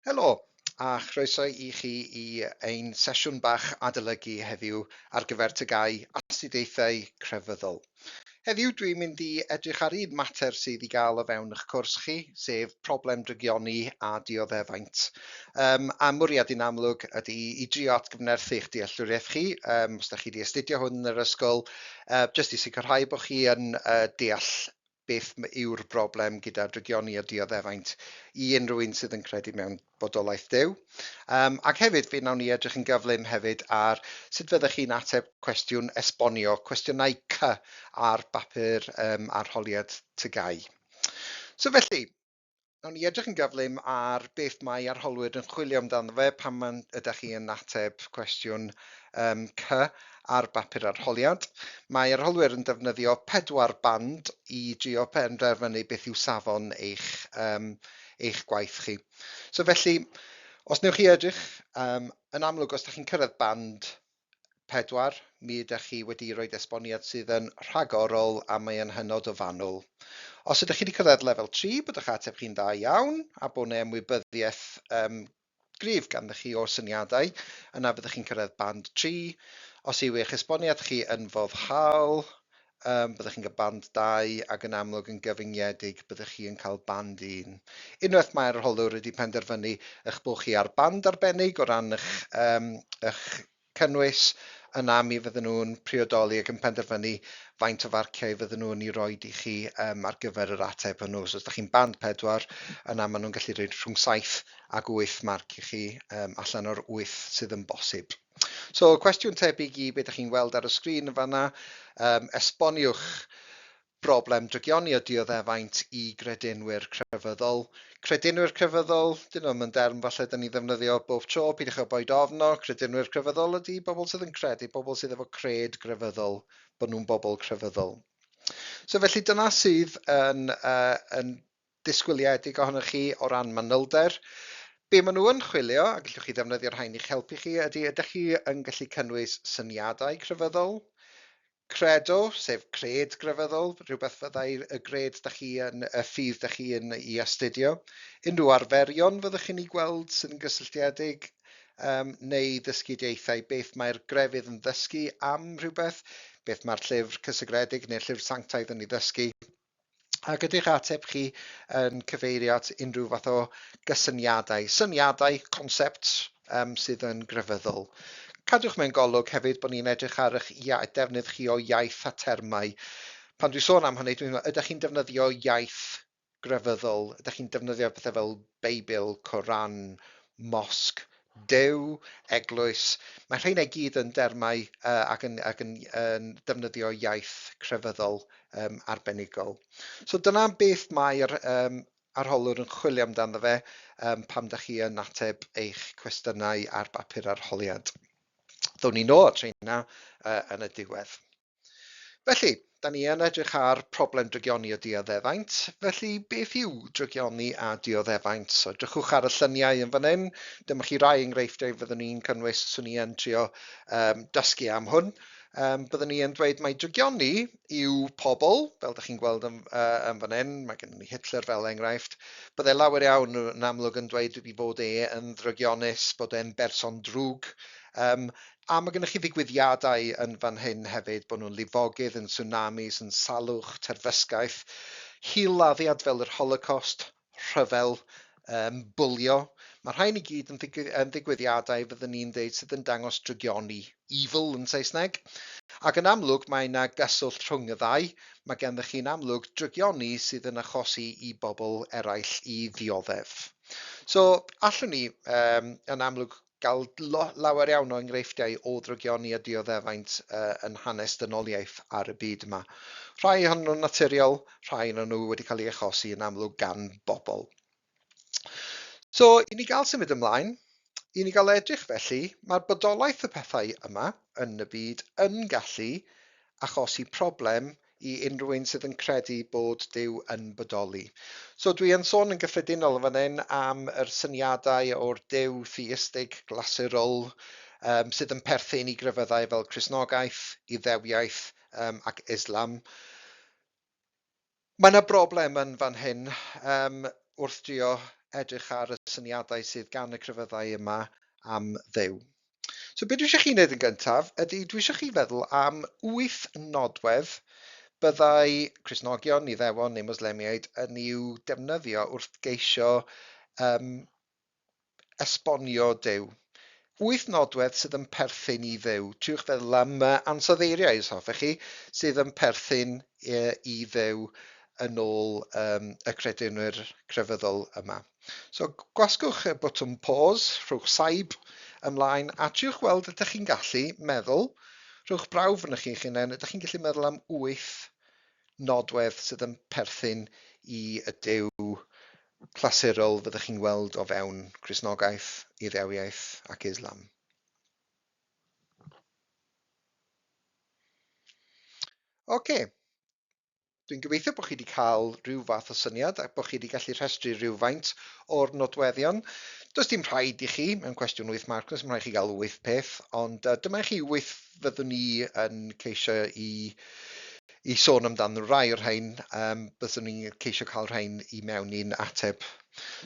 Helo, a chroeso i chi i ein sesiwn bach adolygu heddiw ar gyfer tygau astudiaethau crefyddol. Heddiw dwi'n mynd i edrych ar un mater sydd i gael o fewn eich cwrs chi, sef problem drygioni a dioddefaint. Um, a mwriad i'n amlwg ydy i drio atgyfnerthu eich dealltwriaeth chi, um, os da chi wedi astudio hwn yn yr ysgol, uh, jyst i sicrhau bod chi yn uh, deall beth yw'r broblem gyda drygioni a dioddefaint i unrhyw un sydd yn credu mewn bodolaeth Duw. Um, ac hefyd, fe wnawn ni edrych yn gyflym hefyd ar sut fyddech chi'n ateb cwestiwn esbonio, cwestiynau cy ar bapur um, arholiad tygau. So felly, Nawn ni edrych yn gyflym ar beth mae arholwyr yn chwilio amdano fe pan mae'n ydych chi yn ateb cwestiwn um, C ar bapur arholiad. Mae arholwyr yn defnyddio pedwar band i drio penderfynu beth yw safon eich, um, eich gwaith chi. So felly, os newch chi edrych, um, yn amlwg os ydych chi'n cyrraedd band 4, mi ydych chi wedi rhoi esboniad sydd yn rhagorol a mae yn hynod o fanwl. Os ydych chi wedi cyrraedd lefel 3, bod eich ateb chi'n dda iawn a bod yna ymwybyddiaeth um, gryf ganddo chi o'r syniadau, yna byddwch chi'n cyrraedd band 3. Os yw eich esboniad chi yn foddhaol, Um, byddwch chi'n cael band 2 ac yn amlwg yn gyfyngiedig byddwch chi yn cael band 1. Unwaith mae'r arholwr wedi penderfynu eich bod chi ar band arbennig o ran eich, um, eich cynnwys, yna mi fydden nhw'n priodoli ac yn penderfynu faint o farciau fydden nhw'n ei roi i chi um, ar gyfer yr ateb hwnnw. So os ydych chi'n band 4, yna maen nhw'n gallu rhoi rhwng 7 ac 8 marc i chi um, allan o'r 8 sydd yn bosib. So, cwestiwn tebyg i be da chi'n weld ar y sgrin yn fanna, um, esboniwch broblem drygioni o dioddefaint i gredinwyr crefyddol. Credinwyr crefyddol, dyn nhw'n yn derm falle da ni ddefnyddio bob tro, pidwch o boed ofno, credinwyr crefyddol ydy bobl sydd yn credu, bobl sydd efo cred grefyddol, bod nhw'n bobl crefyddol. So felly dyna sydd yn, uh, yn disgwyliedig ohonoch chi o ran manylder. Be maen nhw yn chwilio, a gallwch chi ddefnyddio rhain i'ch helpu chi, ydy ydych chi yn gallu cynnwys syniadau crefyddol? Credo, sef cred grefyddol, rhywbeth fyddai y gred da chi yn, y ffydd da chi yn i astudio. Unrhyw arferion fyddwch chi'n ei gweld sy'n gysylltiedig, um, neu ddysgidiaethau, beth mae'r grefydd yn ddysgu am rhywbeth, beth mae'r llyfr cysegredig neu'r llyfr sanctaidd yn ei ddysgu. Ac ydy'ch ateb chi yn cyfeirio at unrhyw fath o gysyniadau, syniadau, concepts um, sydd yn grefyddol? Cadwch mewn golwg hefyd bod ni'n edrych ar eich defnydd chi o iaith a termau. Pan dwi'n sôn am hynny, dwi'n meddwl, ydych chi'n defnyddio iaith grefyddol? Ydych chi'n defnyddio pethau fel Beibl, Coran, mosg, Duw, eglwys, mae rheina i gyd yn dermau uh, ac yn, ac yn yn defnyddio iaith crefyddol um, arbenigol. So dyna beth mae'r um, arholwr yn chwilio amdano fe um, pam da chi yn ateb eich cwestiynau ar bapur arholiad. Ddown ni nôl at rheina uh, yn y diwedd. Felly, da ni yn edrych ar problem drygioni a dioddefaint, felly beth yw drygioni a dioddefaint? So, edrychwch ar y lluniau yn fan hyn, dyma chi rai enghreifftiau fyddwn ni'n cynnwys os ni yn trio um, dysgu am hwn. Um, byddwn ni yn dweud mae drygioni yw pobl, fel da chi'n gweld yn, uh, yn fan hyn, mae gen ni Hitler fel enghraifft, byddai lawer iawn yn amlwg yn dweud wedi fod e yn ddrygionus, bod e'n berson drwg, um, A mae gennych chi ddigwyddiadau yn fan hyn hefyd, bod nhw'n lifogydd, yn tsunamis, yn salwch, terfysgaeth, hil-laddiad fel yr Holocost, rhyfel, um, bwlio. Mae rhain i gyd yn, ddigwydd, yn ddigwyddiadau, fyddwn ni'n dweud, sydd yn dangos drygioni, evil yn Saesneg. Ac yn amlwg mae yna gyswllt rhwng y ddau, mae gennych chi'n amlwg drygioni sydd yn achosi i bobl eraill i ddioddef. So, allwn ni um, yn amlwg Gall lawer iawn o enghreifftiau o ddrygioni a dioddefaint yn hanes dynoliaeth ar y byd yma. Rhai ohonyn nhw'n naturiol, rhai ohonyn nhw wedi cael ei achosi yn amlwg gan bobl. So, i ni gael symud ymlaen, i ni gael edrych felly, mae'r bodolaeth y pethau yma yn y byd yn gallu achosi problem i unrhyw un sydd yn credu bod Duw yn bodoli. So dwi yn sôn yn gyffredinol yn fan hyn am yr syniadau o'r Duw theistig, glasurol, um, sydd yn perthyn i grefyddau fel Cresnogaeth, Iddewiaeth um, ac Islam. Mae yna broblem yn fan hyn um, wrth drio edrych ar y syniadau sydd gan y crefyddau yma am ddew. So beth dwi eisiau chi wneud yn gyntaf ydy dwi eisiau chi feddwl am wyth nodwedd byddai Cresnogion, Iddewon neu Moslemiaid yn i'w defnyddio wrth geisio um, esbonio Dyw. Wyth nodwedd sydd yn perthyn i Ddyw. Triwch feddwl am uh, ansoddeiriau, os hoffech chi, sydd yn perthyn uh, i Ddyw yn ôl um, y credinwyr crefyddol yma. So gwasgwch y botwm pause, rhowch saib ymlaen a triwch weld ydych chi'n gallu meddwl, rhowch brawf yn chi'ch hunain, ydych chi'n gallu meddwl am wyth nodwedd sydd yn perthyn i y Duw clasurol fyddwch chi'n weld o fewn Cristnogaeth, Iddewiaeth ac Islam. Oce, okay. Dwi'n gobeithio bod chi wedi cael rhyw fath o syniad a bod chi wedi gallu rhestru rhywfaint o'r nodweddion. Does dim rhaid i chi, mewn cwestiwn wyth marc, does dim rhaid i chi gael wyth peth, ond uh, dyma i chi wyth fyddwn ni yn ceisio i, i sôn amdano rai o'r rhain, um, byddwn ni'n ceisio cael rhain i mewn i'n ateb.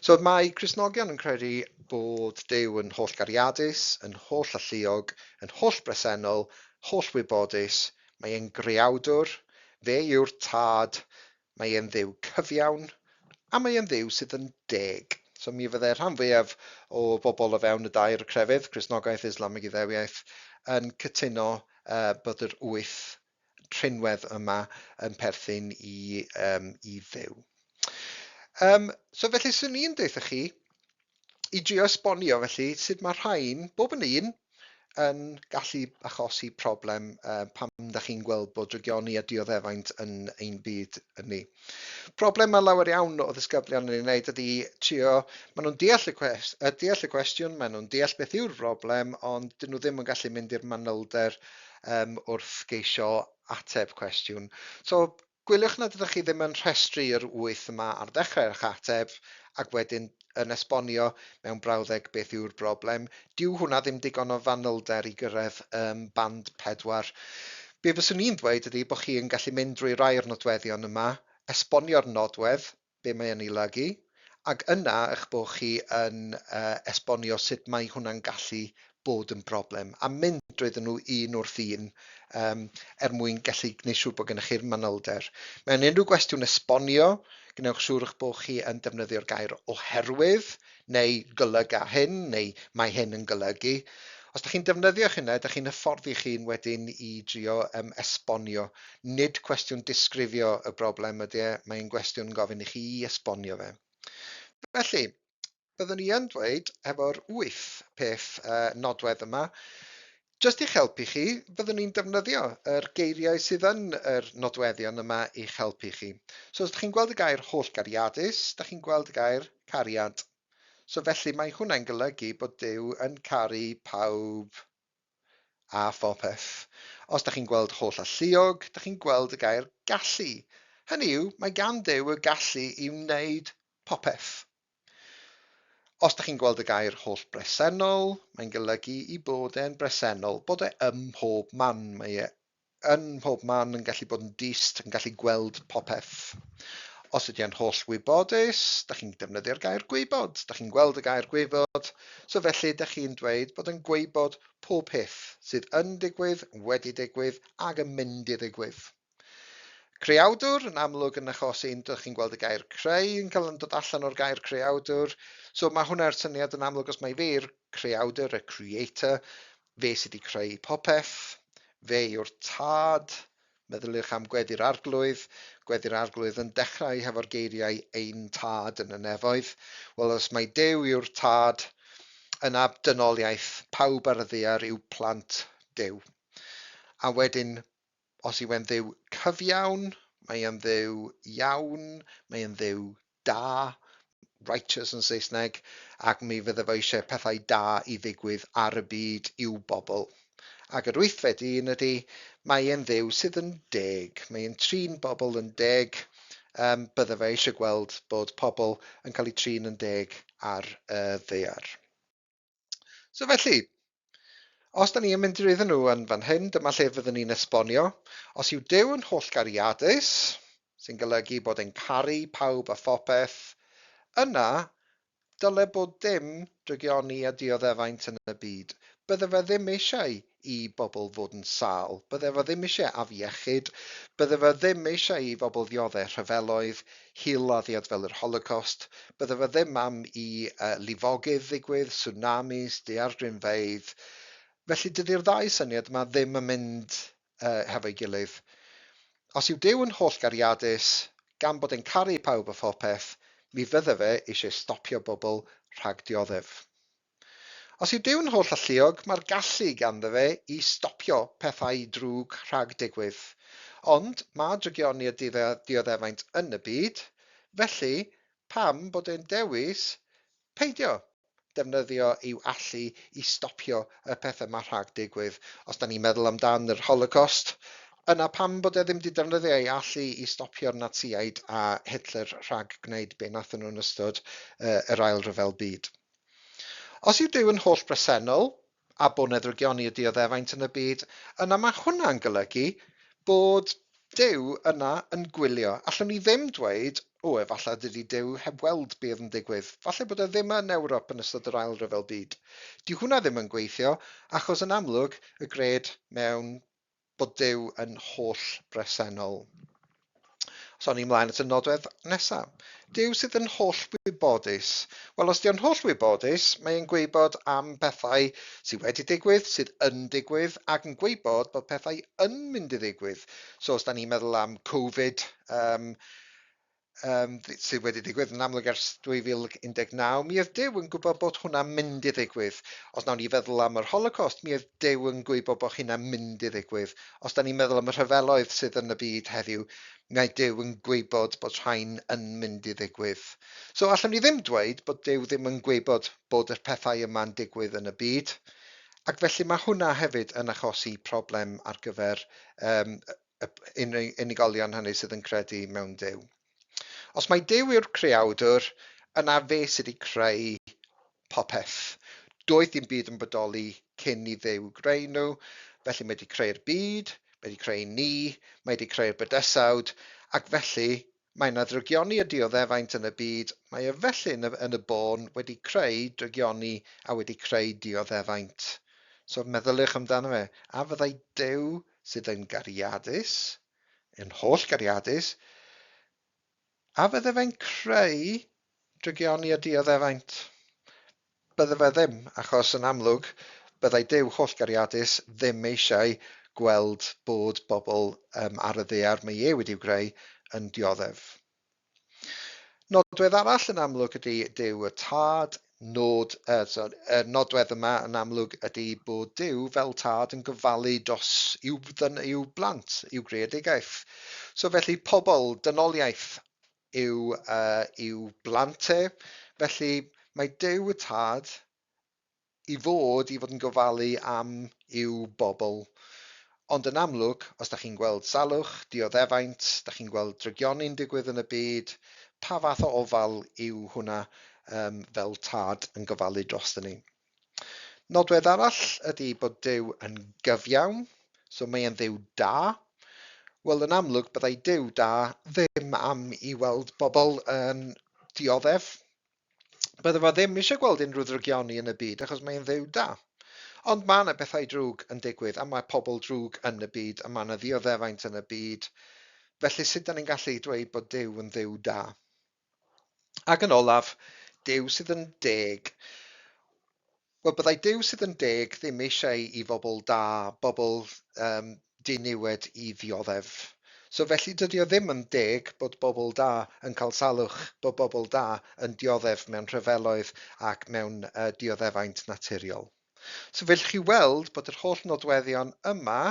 So mae Cresnogion yn credu bod Dew yn holl gariadus, yn holl alluog, yn holl bresennol, holl wybodus, Mae e'n greawdwr, fe yw'r Tad, mae e'n Dduw cyfiawn, a mae e'n Dduw sydd yn deg. So mi fyddai'r rhan fwyaf o bobl o fewn y dair crefydd, Cristnogaeth, Islam ac Iddewiaeth, yn cytuno yy bod yr wyth rhinwedd yma yn perthyn i yym i Dduw. Yym so felly 'swn i'n deutha chi i drio esbonio felly sut mae rhain, bob yn un, yn gallu achosi problem uh, pam da chi'n gweld bod drygioni a dioddefaint yn ein byd yn ni. Problem mae lawer iawn o ddisgyblion yn ei wneud ydy trio, maen nhw'n deall y, cwest, uh, deall y cwestiwn, maen nhw'n deall beth yw'r broblem, ond dyn nhw ddim yn gallu mynd i'r manylder um, wrth geisio ateb cwestiwn. So, Gwyliwch nad ydych chi ddim yn rhestru yr wyth yma ar ddechrau eich ateb ac wedyn yn esbonio mewn brawddeg beth yw'r broblem. Dyw hwnna ddim digon o fanylder i gyrraedd ym band pedwar. Be fyswn i'n ddweud ydy bod chi yn gallu mynd drwy rai o'r nodweddion yma, esbonio'r nodwedd, be mae yn ei olygu, ac yna eich bod chi yn esbonio sut mae hwnna'n gallu bod yn broblem, a mynd drwyddyn nhw un wrth un um, er mwyn gallu gwneud siŵr bod gennych chi'r manylder. Mewn unrhyw gwestiwn esbonio, gwnewch siŵr eich bod chi yn defnyddio'r gair oherwydd, neu golyga hyn, neu mae hyn yn golygu. Os da chi'n defnyddio hynna, da chi'n hyfforddi chi'n wedyn i drio um, esbonio. Nid cwestiwn disgrifio y broblem ydy e, mae'n gwestiwn yn gofyn i chi i esbonio fe. Felly, byddwn i yn dweud, efo'r wyth peth uh, nodwedd yma, Jyst i'ch helpu chi, byddwn ni'n defnyddio yr geiriau sydd yn yr nodweddion yma i'ch helpu chi. So os ydych chi'n gweld y gair hollgariadus, da chi'n gweld y gair cariad. So felly mae hwnna'n golygu bod Duw yn caru pawb a phopeth. Os da chi'n gweld holl alluog, da chi'n gweld y gair gallu. Hynny yw, mae gan Duw y gallu i wneud popeth. Os da chi'n gweld y gair holl bresennol, mae'n golygu i bod e'n bresennol, bod e ym mhob man, mae e yn mhob man yn gallu bod yn dist, yn gallu gweld popeth. Os ydy e'n holl wybodus, da chi'n defnyddio'r gair gwybod, da chi'n gweld y gair gwybod, so felly da chi'n dweud bod yn gwybod pob peth sydd yn digwydd, wedi digwydd, ag yn mynd i ddigwydd. Creawdwr, yn amlwg yn achos un, dych chi'n gweld y gair creu yn cael yn dod allan o'r gair creawdwr, so mae hwnna yr syniad yn amlwg os mae fe i'r creawdwr, y creator, fe sydd wedi creu popeth, fe yw'r tad, meddyliwch am gweddi'r arglwydd, gweddi'r arglwydd yn dechrau hefo'r geiriau ein tad yn y nefoedd, wel os mae Dew yw'r tad, yna dynoliaeth pawb ar y ddear yw plant Dew. A wedyn Os yw e'n Dduw cyfiawn, mae e'n Dduw iawn, mae e'n Dduw da, righteous yn Saesneg, ac mi fydde fo eisiau pethau da i ddigwydd ar y byd i'w bobl. Ac yr wythfed un ydy, mae e'n Dduw sydd yn deg, mae e'n trin bobl yn deg, um, bydde fe eisiau gweld bod pobl yn cael eu trin yn deg ar y ddear. So felly, os da ni yn mynd drwyddyn nhw yn fan hyn, dyma lle fyddwn ni'n esbonio. Os yw Dyw yn holl gariadus, sy'n golygu bod e'n caru pawb a phopeth, yna dyle bod dim drygioni a dioddefaint yn y byd. Bydde fe ddim eisiau i bobl fod yn sâl, bydde fo ddim eisiau afiechyd, bydde fo ddim eisiau i fobl ddiodde' rhyfeloedd, hil-laddiad fel yr Holocost, bydde fo ddim am i yy lifogydd ddigwydd, tsunamis, daeardrinfeydd. Felly dydi'r ddau syniad yma ddim yn mynd yy hefo'i gilydd. Os yw Duw yn hollgariadus, gan bod e'n caru pawb a phopeth, mi fydde fe eisiau stopio bobl rhag dioddef. Os yw Duw'n holl alluog, mae'r gallu ganddo fe i stopio pethau drwg rhag digwydd. Ond mae drygioni a dioddefaint yn y byd, felly pam bod e'n dewis peidio defnyddio i'w allu i stopio y pethau yma rhag digwydd? Os da ni'n meddwl amdan yr Holocost, yna pam bod e ddim wedi defnyddio ei allu i stopio'r Natsïaid a Hitler rhag gwneud be nathon nhw'n ystod yr Ail Ryfel Byd? Os yw Duw yn holl bresennol, a bo neddrygion i'r dioddefaint yn y byd, yna mae hwnna'n golygu bod Duw yna yn gwylio. Allwn ni ddim dweud, O, efallai dydy Duw heb weld be oedd yn digwydd. Falle bod e ddim yn Ewrop yn ystod yr Ail Ryfel Byd. Dyw hwnna ddim yn gweithio, achos yn amlwg y gred mewn bod Duw yn holl bresennol. So ni mlaen at y nodwedd nesa. Duw sydd yn holl wybodus. Wel, os di'n holl wybodus, mae e'n gweibod am pethau sydd wedi digwydd, sydd yn digwydd, ac yn gweibod bod pethau yn mynd i ddigwydd. So os da ni'n meddwl am Covid, um, um, sydd wedi digwydd yn amlwg ers 2019, mi oedd Dyw yn gwybod bod hwnna'n mynd i ddigwydd. Os nawn ni feddwl am yr Holocaust, mi oedd Dyw yn gwybod bod hynna'n mynd i ddigwydd. Os da ni'n meddwl am y rhyfeloedd sydd yn y byd heddiw, mi oedd Dyw yn gwybod bod rhain yn mynd i ddigwydd. So allwn ni ddim dweud bod Dyw ddim yn gwybod bod y pethau yma'n digwydd yn y byd, ac felly mae hwnna hefyd yn achosi problem ar gyfer um, unigolion hynny sydd yn credu mewn Duw. Os mae Duw yw'r creawdwr, yna fe sydd wedi creu popeth. Doedd dim byd yn bodoli cyn i Dduw greu nhw, felly mae wedi creu'r byd, mae wedi creu ni, mae wedi creu'r bydysawd, ac felly Mae yna drygioni a dioddefaint yn y byd, mae e felly yn y, yn y bôn, wedi creu drygioni a wedi creu dioddefaint. So meddyliwch amdano fe, a fyddai Duw sydd yn gariadus, yn holl gariadus, a fydde fe'n creu drygioni a dioddefaint? Bydde fe ddim, achos yn amlwg, byddai Duw hollgariadus ddim eisiau gweld bod bobl um, ar y ddaear mae e wedi'u greu yn dioddef. Nodwedd arall yn amlwg ydy Duw y Tad, nod, uh, so, uh, nodwedd yma yn amlwg ydy bod Duw fel Tad yn gofalu dros i'w, i'w blant, i'w greadigaeth. So felly pobl, dynoliaeth, yw i'w blant e. Felly, mae Duw y Tad i fod i fod yn gofalu am i'w bobl. Ond yn amlwg, os da chi'n gweld salwch, dioddefaint, da chi'n gweld drygioni'n digwydd yn y byd, pa fath o ofal yw hwnna fel Tad yn gofalu drosto ni? Nodwedd arall ydy bod Duw yn gyfiawn, so mae e'n Dduw da. Wel, yn amlwg, byddai Duw da ddim am i weld bobl yn dioddef. Bydde fo ddim eisiau gweld unrhyw ddrygioni yn y byd achos mae'n Dduw da. Ond mae yna bethau drwg yn digwydd a mae pobl drwg yn y byd a mae yna ddioddefaint yn y byd. Felly sut 'dan ni'n gallu dweud bod Duw yn Dduw da? Ac yn olaf, Duw sydd yn deg. Wel, byddai Duw sydd yn deg ddim eisiau i fobl da, bobl um, diniwed i ddioddef. So felly dydy o ddim yn deg bod bobl da yn cael salwch, bod bobl da yn dioddef mewn rhyfeloedd ac mewn uh, dioddefaint naturiol. So fel chi weld bod yr holl nodweddion yma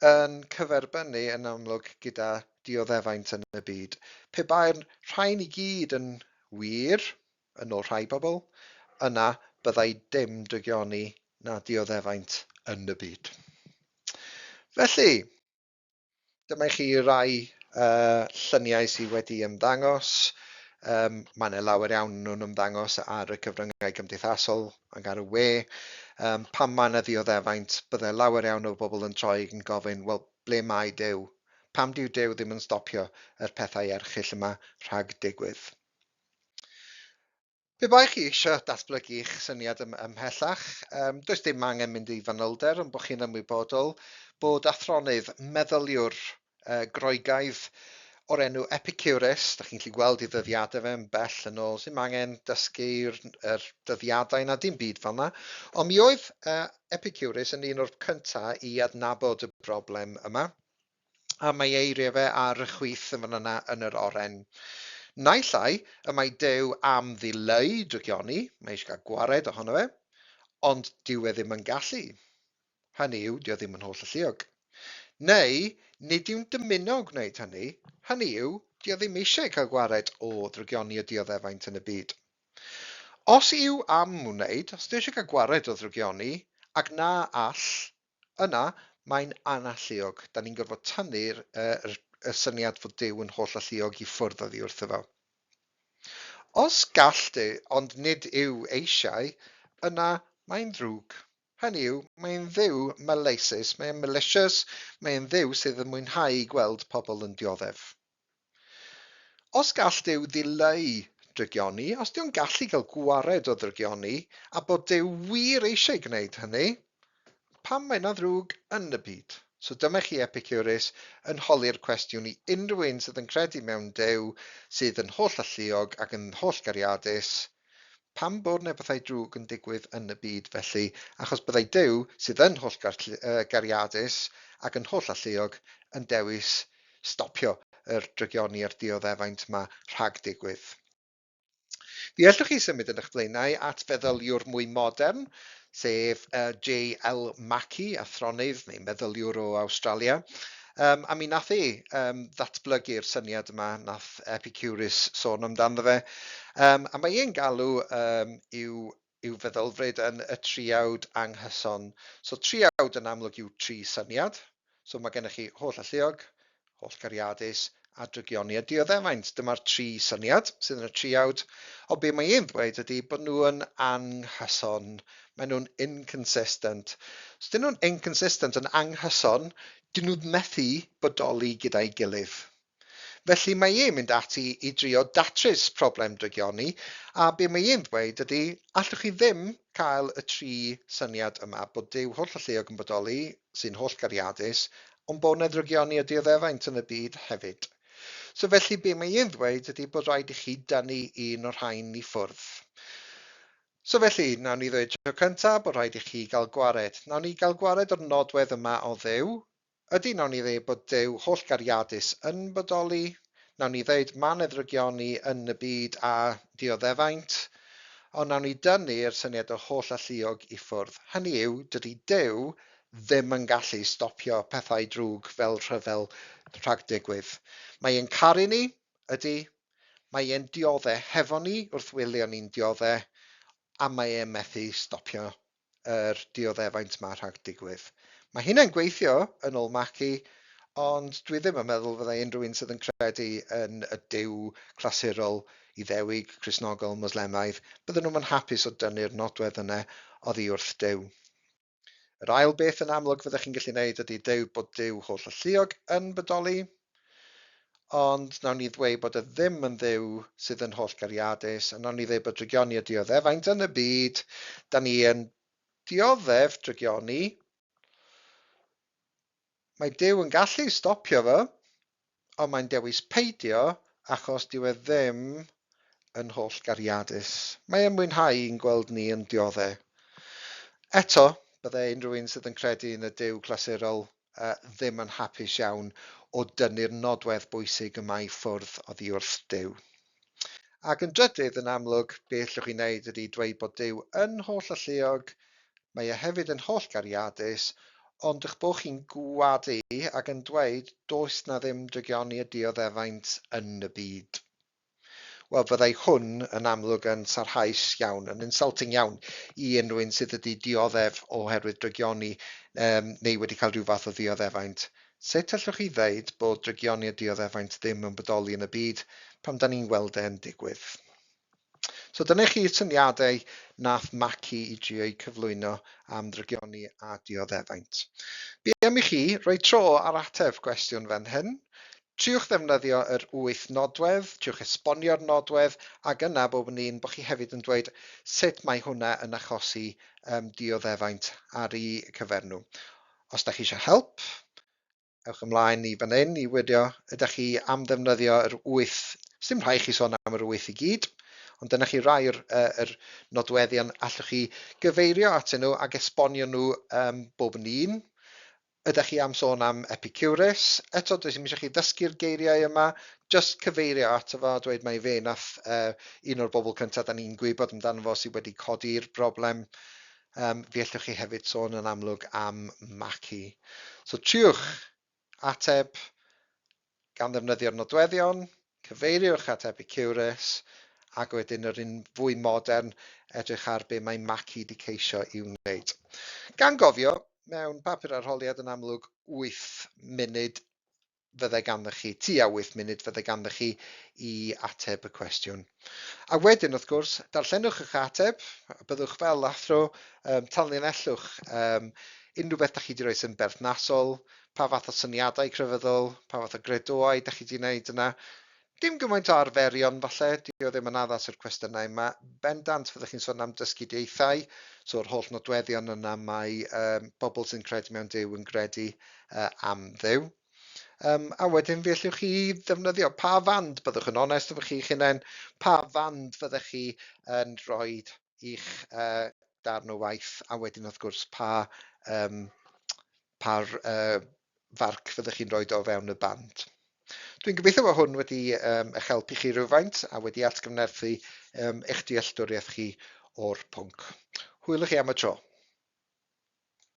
yn cyferbynnu yn amlwg gyda dioddefaint yn y byd. Pe bai'r rhain i gyd yn wir, yn ôl rhai pobl, yna byddai dim drygioni na dioddefaint yn y byd. Felly, Dyma i chi rai uh, lluniau sydd wedi ymddangos. Um, mae yna lawer iawn nhw'n ymddangos ar y cyfryngau cymdeithasol ac ar y we. Um, pan mae yna ddioddefaint, byddai lawer iawn o bobl yn troi yn gofyn, wel, ble mae Dew? Pam dyw Dew ddim yn stopio yr pethau erchill yma rhag digwydd? Pe bai chi eisiau datblygu'ch syniad ym, ymhellach, um, does dim angen mynd i fanylder ond bod chi'n ymwybodol bod athronydd, meddyliwr uh, Groegaidd o'r enw Epicurus, da chi'n gallu gweld i ddyddiadau fe yn bell yn ôl, sy'n angen dysgu'r er dyddiadau na dim byd fel yna. Ond mi oedd uh, Epicurus yn un o'r cyntaf i adnabod y broblem yma. a mae ei eiriau fe ar y chwith yn fan yna yn yr oren. Naill ai y mae Duw am ddileu drygioni, mae eisiau cael gwared ohono fe, ond dyw e ddim yn gallu. Hynny yw, dyw e ddim yn holl alluog. Neu, nid yw'n dymuno gwneud hynny, hynny yw, dyw e ddim eisiau cael gwared o ddrygioni y dioddefaint yn y byd. Os yw am wneud, os dyw eisiau cael gwared o ddrygioni, ac na all, Yna, mae'n analluog. Dan ni'n gorfod tanu'r er, y syniad fod Duw yn holl-alluog i ffwrdd oddi wrtho fo. Os gall Duw, ond nid yw eisiau, yna mae'n ddrwg. Hynny yw, mae'n Dduw maleisus, mae'n malicious, mae'n Dduw sydd yn mwynhau gweld pobl yn dioddef. Os gall Duw ddileu drygioni, os dyw'n gallu cael gwared o ddrygioni, a bod Duw wir eisiau gwneud hynny, pam mae yna ddrwg yn y byd? So dyma chi Epicurus yn holi'r cwestiwn i unrhyw un sydd yn credu mewn Duw sydd yn holl-alluog ac yn holl-gariadus, Pam bod ne bethau drwg yn digwydd yn y byd felly, achos byddai Duw, sydd yn hollgariadus ac yn hollalluog, yn dewis stopio yr drygioni a'r dioddefaint ma rhag digwydd. Fe ellwch chi symud yn eich blaenau at feddyliwr mwy modern, sef JL Mackie, athronydd neu meddyliwr o Awstralia, Um, a mi nath e um, ddatblygu'r syniad yma, nath Epicurus sôn amdano fe. Um, a mae e'n galw um, i'w, i'w feddylfryd yn y triawd anghyson. So triawd yn amlwg yw tri syniad, So mae gennych chi holl alluog, holl gariadus a drygioni a dioddefaint. Dyma'r tri syniad sydd yn y triawd. O be mae e'n ddweud ydy bod nhw'n anghyson. Mae nhw'n inconsistent. Os dyn nhw'n inconsistent yn anghyson, dyn nhw'n methu bodoli gyda'i gilydd. Felly mae e'n mynd ati i drio datrys problem drygioni, a be mae e'n ddweud ydi, allwch chi ddim cael y tri syniad yma, bod Duw hollolluog yn bodoli, sy'n hollgariadus, ond bod 'na ddrygioni a dioddefaint yn y byd hefyd. So felly be mae e'n ddweud ydi bod rhaid i chi dynnu un o'r rhain i ffwrdd. So felly, nawn ni ddweud tro cynta bod rhaid i chi gael gwared. Nawn ni gael gwared o'r nodwedd yma o Dduw, Ydy, wnawn ni ddeud bod Duw hollgariadus yn bodoli, wnawn ni ddeud ma' nedrygion ni yn y byd a dioddefaint, ond wnawn ni dynnu'r syniad o holl alluog i ffwrdd. Hynny yw, dydy Duw ddim yn gallu stopio pethau drwg fel rhyfel rhag digwydd. Mae e'n caru ni, ydy, mae e'n diodde hefo ni wrth wylio ni'n diodde, a mae e methu stopio yr dioddefaint ma rhag digwydd. Mae hynna'n gweithio yn ôl Mackie, ond dwi ddim yn meddwl fyddai unrhyw un sydd yn credu yn y Duw clasurol, Iddewig, Cristnogol, Mwslemaidd, bydden nhw'm yn hapus o dynnu'r nodwedd yna oddi wrth Duw. Yr ail beth yn amlwg fyddech chi'n gallu neud ydi deud bod Duw holl-alluog yn bodoli. Ond nawn ni ddweud bod e ddim yn Dduw sydd yn hollgariadus, a nawn ni ddweud bod drygioni a dioddefaint yn y byd, da ni yn dioddef drygioni, mae Duw yn gallu stopio fo, ond mae'n dewis peidio achos dyw e ddim yn hollgariadus. Mae e'n mwynhau i'n gweld ni yn diodde. Eto, byddai unrhyw un sydd yn credu yn y Duw clasurol ddim yn hapus iawn o dynnu'r nodwedd bwysig yma i ffwrdd oddi wrth Duw. Ac yn drydydd, yn amlwg, be allwch chi wneud ydy dweud bod Duw yn holl alluog, mae e hefyd yn holl gariadus, ond eich bod chi'n gwadu ac yn dweud does na ddim drygioni a dioddefaint yn y byd. Wel fyddai hwn yn amlwg yn sarhaus iawn, yn insulting iawn i unrhyw un sydd wedi dioddef oherwydd drygioni yym neu wedi cael rhyw fath o ddioddefaint. Sut allwch chi ddeud bod drygioni a dioddefaint ddim yn bodoli yn y byd pan da ni'n gweld e'n digwydd? So dyna chi syniadau nath Mackie i drio'u cyflwyno am ddrygioni a dioddefaint. Be am i chi roi tro ar ateb gwestiwn fan hyn? Triwch ddefnyddio yr wyth nodwedd, triwch esbonio'r nodwedd, ac yna bob yn un bod chi hefyd yn dweud sut mae hwnna yn achosi um, dioddefaint ar i cyfer nhw. Os da chi eisiau help, ewch ymlaen i fan hyn i wirio ydych chi am ddefnyddio yr wyth, sy'n rhai chi sôn am yr wyth i gyd, ond dyna chi rai yr, yr nodweddion allwch chi gyfeirio atyn nhw ac esbonio nhw um, bob yn un. Ydach chi am sôn am Epicurus? Eto, does dim eisiau chi ddysgu'r geiriau yma, jyst cyfeirio ato fo a dweud mai fe nath uh, un o'r bobl cyntaf da ni'n gwybod amdano fo sydd wedi codi'r broblem. Um, fi allwch chi hefyd sôn yn amlwg am Maki. So triwch ateb Gan ddefnyddio'r nodweddion, cyfeiriwch at Epicurus, ac wedyn yr un fwy modern, edrych ar be mae Maki 'di ceisio i'w wneud. Gan gofio, mewn papur arholiad yn amlwg wyth munud fyddai ganddoch chi, tua wyth munud fyddai ganddoch chi i ateb y cwestiwn. A wedyn, wrth gwrs, darllenwch eich ateb, a byddwch fel athro, um, tanlinellwch um, unrhyw beth da chi wedi rhoi sy'n berthnasol, pa fath o syniadau crefyddol, pa fath o gredoau dach chi 'di wneud yna. Dim gymaint o arferion falle, dio ddim yn addas i'r cwestiynau yma. Bendant fyddwch chi'n sôn am dysgu dieithau, so yr holl nodweddion yna mae um, bobl sy'n credu mewn Duw yn gredu uh, am Dduw. Um, a wedyn fe allwch chi ddefnyddio pa fand byddwch yn onest efo chi'ch hunain, pa fand fyddech chi yn rhoi i'ch uh, darn o waith, a wedyn wrth gwrs pa um, pa farc fyddwch chi'n rhoi o fewn y band. Dwi'n gobeithio bod hwn wedi um, eich helpu chi rhywfaint a wedi atgyfnerthu um, eich dealltwriaeth chi o'r pwnc. Hwyl i chi am y tro.